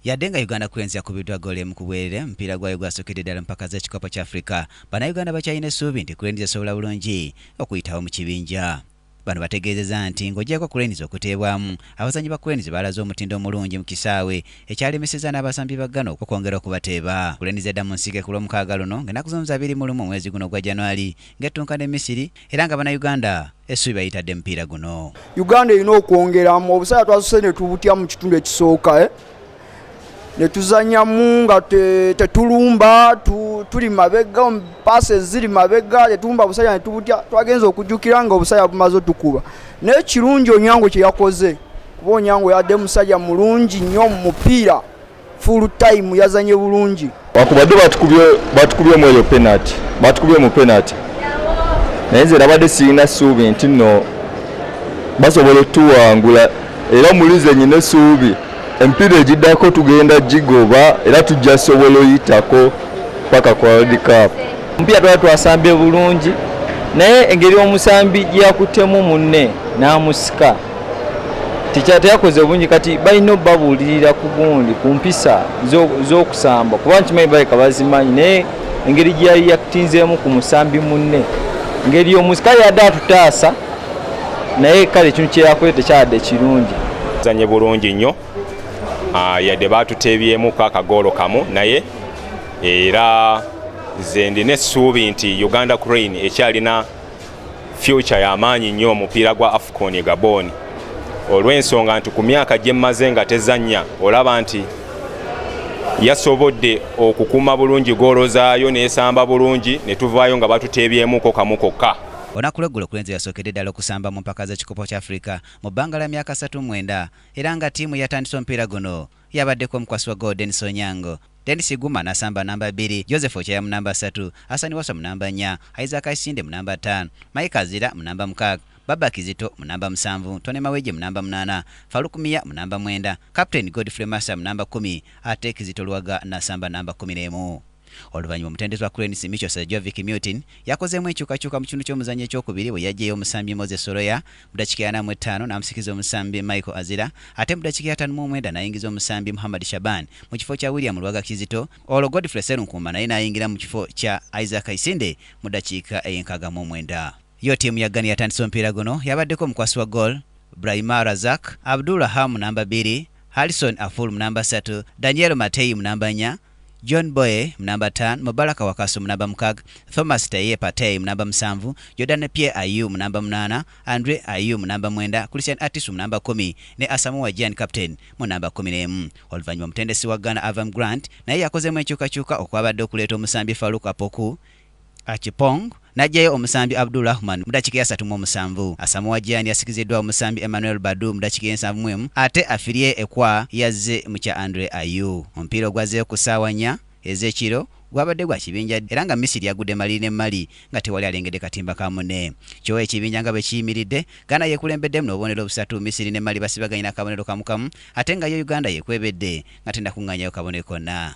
Yadde nga Uganda Cranes yakubiddwa ggoolo emu ku bwerere, omupiira gwayo gwasukidde ddala mu mpaka z'ekikopo ky'Afrika, bannayuganda bakyalina essuubi nti Cranes esobola bulungi okuyitawo mu kibinja. Bano bategeezeza nti ng'ogyeko Cranes okuteebwamu, abazannyi ba Cranes baalaze omutindo omulungi mu kisaawe, ekyalemesezza n'abasambi ba Ghana okwongera okubateeba. Cranes edda mu nsike ku Lwomukaaga luno ng'ennaku z'omuze abiri mu lumu omwezi guno ogwa January ng'ettunka ne Misiri, era nga bannayuganda essubi bayitadde mupiira guno uganda erina okwongeramu obusaya twasuse ne tubutya mu kitundu ekisooka eh? ne tuzanyamu nga tetulumba tuli mabega paase ziri mabega tetulumba busaya ne tubutya twagenza okujjukira nga obusaya bumaze otukuba naye kirungi onyango kye yakoze kuba onyango yadde musajja mulungi nnyo mu mupiira full time yazanye bulungi wakubadde batukubye batukubye mu eyo penalty batukubye mu penalty naye nze nabadde sirina suubi nti no basobola otuwangula era mulize nyina esuubi empiira egiddako tugenda gigoba era tujja sobola oyitako paka ku world cup omupiira twala twasambye bulungi naye engeri omusambi gyeyakuttemu munne n'amusika tekyate yakoze obungi kati balina obabuulirira ku gundi ku mpisa z'okusamba kuba nkimanyi baleka bazimanyi naye engeri gyeyali yatinzeemu ku musambi munne ngeri omuzi kale yadde atutaasa naye kale ekintu kyeyakoze tekyadde kirungi zanye bulungi nnyo ah, yadde batuteebyemuko akagoolo kamu naye era nze ndina essuubi nti uganda crane ekyalina future yamaanyi nnyo omupiira gwa afcon e gabon olw'ensonga nti ku myaka gyemmaze nga tezannya olaba nti yasobodde okukuuma bulungi goolo zaayo n'esamba bulungi ne tuvaayo nga batuteebyemuko kamu kokka olunaku lweggulo kulenzi yasookedde ddala okusamba mu mpaka z'ekikopo kya africa mu bbanga lya myaka satu mwenda era nga ttiimu yatandise omupiira guno Yabaddeko omukwasi wa ggoolo Denis Onyango, Denis Iguma n'asamba nnamba bbiri, Joseph Ochaya mu nnamba ssatu, Hassan Wasswa mu nnamba nnya, Isaac Isinde mu nnamba ttaano, Mike Azira mu nnamba mukaaga, Baba Kizito mu nnamba musanvu, Tonny Mawejje mu nnamba munaana, Farouk Miya mu nnamba mwenda, kapiteeni Godfrey Massa mu nnamba kkumi ate Kizito Lwaga n'asamba nnamba kkumi n'emu. Oluvannyuma omutendesi wa Cranes Micho Srejovic Mutin yakozeemu enkyukakyuka mu kitundu ky'omuzannyo ekyokubiri bwe yaggyeyo omusambi Moses Soroya mu ddakiika ya ana mu ettaano n'amusikiriza omusambi Michael Azira ate mu ddakiika ya ataano mu omwenda n'ayingiza omusambi Muhammad Shaban mu kifo kya William Lwaga Kizito olwo Godfrey Sserunkuuma naye n'ayingira mu kifo kya Isaac Isinde mu ddakiika ey'enkaaga mu omwenda. Yo ttiimu ya Ghana eyatandise omupiira guno yabaddeko omukwasi wa ggool, Brahima Razak, Abdul Raham mu namba bbiri, Harrison Aful mu namba ssatu, Daniel Mateyi mu namba nnya, John Boye mu namba ttaano, Mubaraka Wakaso mu namba mukaaga, Thomas Teye Partey mu namba musanvu, Jordan Pierre Ayew mu namba munaana, Andre Ayew mu namba mwenda, Christian Attisu mu namba kkumi ne Asamoah Gyan captain mu namba kkumi n'emu. Oluvannyuma omutendesi wa Ghana Avram Grant naye yakozeemu enkyukakyuka okwabadde okuleeta omusambi Farouk Apoku, Achipong n'aggyayo omusambi Abdul Rahman mu dakiika eyasatu mu omusanvu. Asamoah Gyan yasikiziddwa omusambi Emmanuel Badu mu dakiika ey'ensanvu mu emu ate Afirie Ekwa yazze mu kya Andre Ayew. Omupiira ogwazzeeyo ku ssaawa nnya ez'ekiro gwabadde gwa kibinja era nga Misiri yagudde maliri ne mmali nga tewali alengedde katimba ka munne. Kyo ekibinja nga bwe kiyimiridde, Ghana y'ekulembeddemu n'obubonero busatu, Misiri ne Mali basibaganye n'akabonero kamu kamu ate nga yo Uganda y'ekwebedde nga tennakungaanyayo kabonero konna.